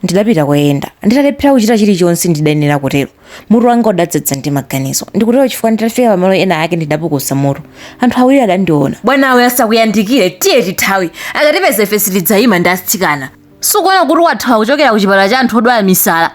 Ndidapita koyenda. Nditalephera kuchita chilichonse ndidayenera kutero, mutu wanga udadzadza ndi maganizo. Ndikutero chifukwa nditafika pamalo ena ake ndidapukusa mutu. Anthu awiri adandiona. Bwanawe, asakuyandikire. Tiye tithawe. Akatipeza ife sitidzaima ndi atsikana. Sukuona kuti wathawa kuchokera kuchipatala cha anthu odwala misala?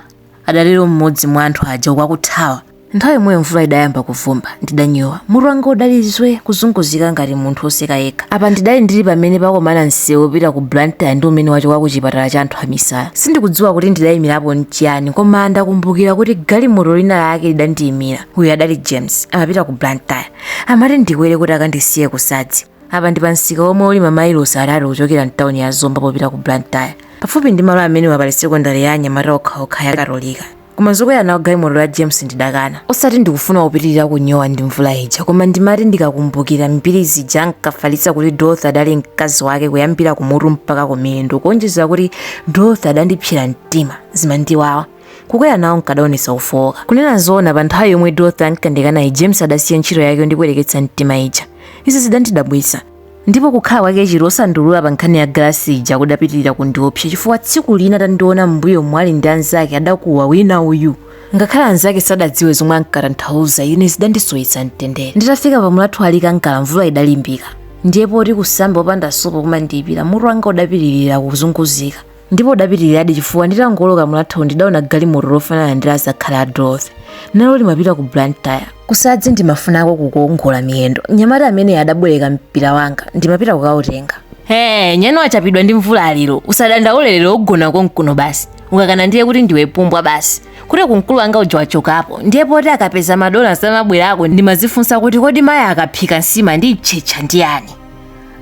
Adatero mmodzi mwa anthu aja uku akuthawa. Nthawi yomweyo mvula idayamba kuvumba. Ndidanyowa. Mutu wanga udali zwee, kuzunguzika ngati munthu woseka yekha. Apa ndidali ndili pamene pakomana msewu wopita ku Blantyre ndi umene wachoka kuchipatala cha anthu amisala. Sindikudziwa kuti ndidaimirapo n'chiyani koma ndakumbukira kuti galimoto lina lake lidandiimira. Uyu adali James. Amapita ku Blantyre. Amati ndikwere kuti akandisiye ku Sadzi. Apa ndi pamsika womwe uli mamailosi atatu kuchokera m'tauni ya Zomba popita ku Blantyre. Pafupi ndi malo amenewa pali sekondale ya anyamata okhaokha ya Katolika. koma zokwera nawo galimoto la james ndidakana osati ndikufuna kupitirira kunyowa ndi mvula ija koma ndimati ndikakumbukira mbiri zija ankafalitsa kuti dorothy adali mkazi wake kuyambira kumutu mpaka kumiyendo kuonjezera kuti dorothy adandipsera mtima zimandiwawa kukwera nawo nkadaonetsa kufowoka kunena zoona pa nthawi yomwe dorothy ankandikanayi james adasiya ntchito yake yondipweteketsa mtima ija izi zidandidabwitsa ndipo kukhala kwake chete osandiulula pa nkhani ya galasi ija kudapitirira kundiopsa chifukwa tsiku lina atandiona m'mbuyo mwali ndi anzake adakuwa wina uyu ngakhale anzake sadadziwe zomwe ankatanthauza ine zidandisowetsa mtendere nditafika pa mulatho wa likangala mvula idalimbika ndiye poti kusamba opanda sopo kumandiyipira mutu wanga udapitirira kuzunguzika ndipo udapitiriradi chifukwa nditangooloka mulatho ndidaona galimoto lofanana ndi la azakhali a dorothy nalo limapita ku blantyre kusadzi ndimafunako kukaongola miyendo mnyamata amene adabwereka mpira wanga ndimapita kukautenga he nyani wachapidwa ndi mvula lero usadandaule lero ugona konkuno basi ukakana ndiye kuti ndiwe pumbwa basi kuti kumkulu wanga uja wachokapo ndiye poti akapeza madona samabwerako ndimadzifunsa kuti kodi mayi akaphika nsima ndi mtchetcha ndi yani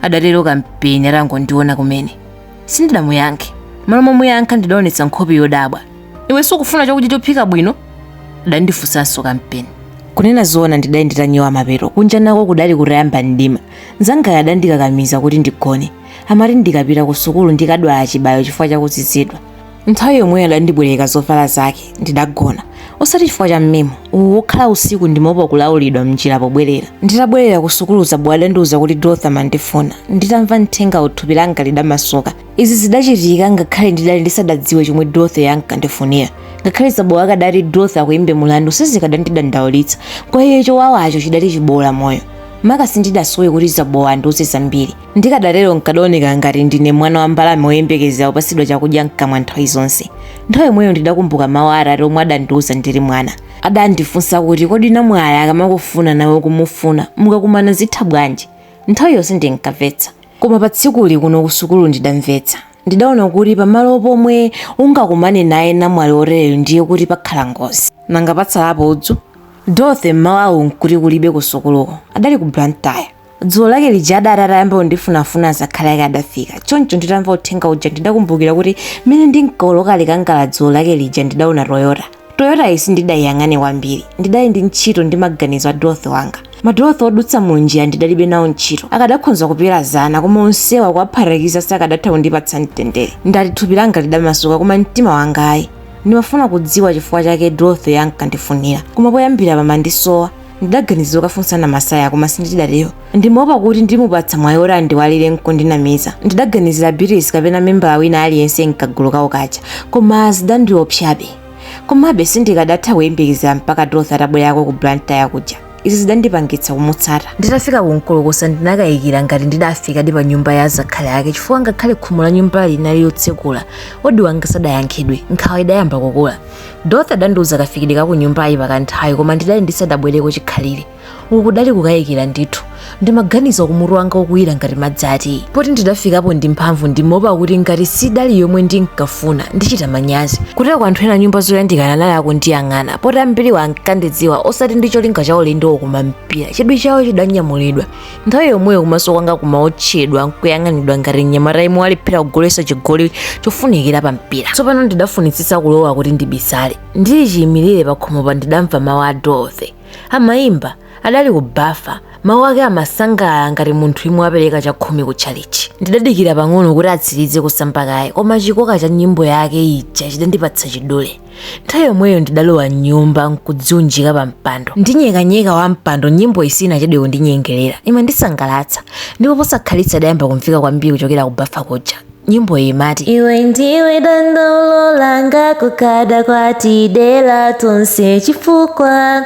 adatero kampeni atangondiona kumene sindidamuyankhe mmalo momuyankha ndidaonetsa nkhope yodabwa iwe sukufuna chakudya chophika bwino adandifunsanso kampeni kunena zoona ndidali nditanyowa mapeto kunja nako kudali kutayamba mdima mzangayo adandikakamiza kuti ndigone amati ndikapita ku sukulu ndikadwala chibayo chifukwa chakuzizidwa nthawi yomweyo adandibwereka zovala zake ndidagona osati chifukwa cha mmemo uwu wokhala usiku ndimaopa kulawulidwa mnjira pobwerera nditabwerera kusukulu zabowa adandiuza kuti dorothy amandifuna nditamva uthengawu thupi langa lidamasuka izi zidachitika ngakhale ndidali ndisadadziwe chomwe dorothy ankandifunira ngakhale zabowa akadati dorothy akuyimbe mulandu sizikadandidandaulitsa kwa iye chowawacho chidali chiboola moyo maka sindidasowe kuti zabowa andiuze zambiri Ndikadatero n'kadaoneka ngati ndine mwana wa mbalame woyembekezera kupatsidwa chakudya m'kamwa nthawi zonse. Nthawi yomweyo ndidakumbuka mawu a atate omwe adandiuza ndili mwana. Adandifunsa kuti, Kodi namwali akamakufuna nawe ukumufuna, mukakumana zitha bwanji? Nthawiyo sindinkamvetsa. Koma pa tsikuli kuno kusukulu ndidamvetsa. Ndidaona kuti pamalo pomwe ungakumane naye namwali wotereyu ndiye kuti pakhala ngozi. Nanga patsalapo udzu? Dorothy m'mawa awu n'kuti kulibe kusukuluko. Adali ku Blantyre. Dzulo lake lija adati atayamba kundifunafuna azakhali ake adafika. Choncho nditamva uthenga uja ndidakumbukira kuti mmene ndinkawoloka Likangala dzulo lake lija ndidaona Toyota. Toyotayi sindidaiyang'ane kwambiri. Ndidali ndi ntchito ndi maganizo a Dorothy wanga. Ma Dorothy odutsa munjira ndidalibe nawo ntchito. Akadakhonza kupera zana koma onsewa kuwaphatikiza sakadatha kundipatsa mtendere. Ndati thupi langa lidamasuka koma mtima wanga ayi. Ndimafuna kudziwa chifukwa chake Dorothy ankandifunira. Koma poyambira pamandisowa. ndidaganiza zokafunsa namasaya koma sindidatero ndimaopa kuti ndimupatsa mwayi oti andiwalire nkundinamiza ndidaganizira beatrice kapena membala wina aliyense mkagulu kawo kaja koma zidandiopsabe komabe sindikadatha kuyembekezera mpaka dorothy atabwerako ku blantyre kuja izi zidandipangitsa kumutsata nditafika ku nkolokosa ndinakayikira ngati ndidafikadi pa nyumba ya azakhali ake chifukwa ngakhale khomo la nyumba linali lotsekula odi wanga sadayankhidwe nkhawa idayamba kukula Dorothy adandiuza kafikidwe ka kunyumbayi pakanthawi koma ndidali ndisadabwereko chikhalire uku kudali kukayikira ndithu ndimaganizaku mutu wanga ukuwira ngati madzi a tiyi poti ndidafikapo ndi mphamvu ndimaopa kuti ngati sidali yomwe ndinkafuna ndichita manyazi kuteroko anthu ena nyumba zoyandikana anali akundiyang'ana poti ambiriwo ankandidziwa osati ndi cholinga cha ulendowo koma mpira chidwi chawo chidanyamulidwa nthawi yomweyo kumaso kwanga kumaotchedwa nkuyang'anidwa ngati mnyamata yemwe walephera kugoletsa chigoli chofunikira pa mpira tsopano ndidafunitsitsa kulowa kuti ndibisale ndili chiyimirire pakhomopa ndidamva mawu a dorothy amayimba adali kubafa mawu ake amasangalala ngati munthu yemwe wapereka chakhumi ku tchalichi ndidadikira pang'ono kuti atsirize kusamba kaye koma chikoka cha nyimbo yake ija chidandipatsa chidule nthawi yomweyo ndidalowa mnyumba nkudziunjika pa mpando ndi nyekanyeka wa mpando nyimboyi sinachedwe kundinyengerera imandisangalatsa ndipo posakhalitsa idayamba kumveka kwambiri kuchokera ku bafa kuja nyimbo iyi imati iwe ndiwe dandaulo langa kukada kwatidera tonse chifukwa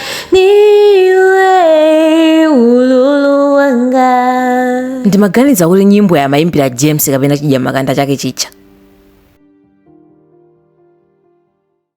ndiwe ululu wanga ndimaganiza kuti nyimboyi amayimbira james kapena chidyamakanda chake chija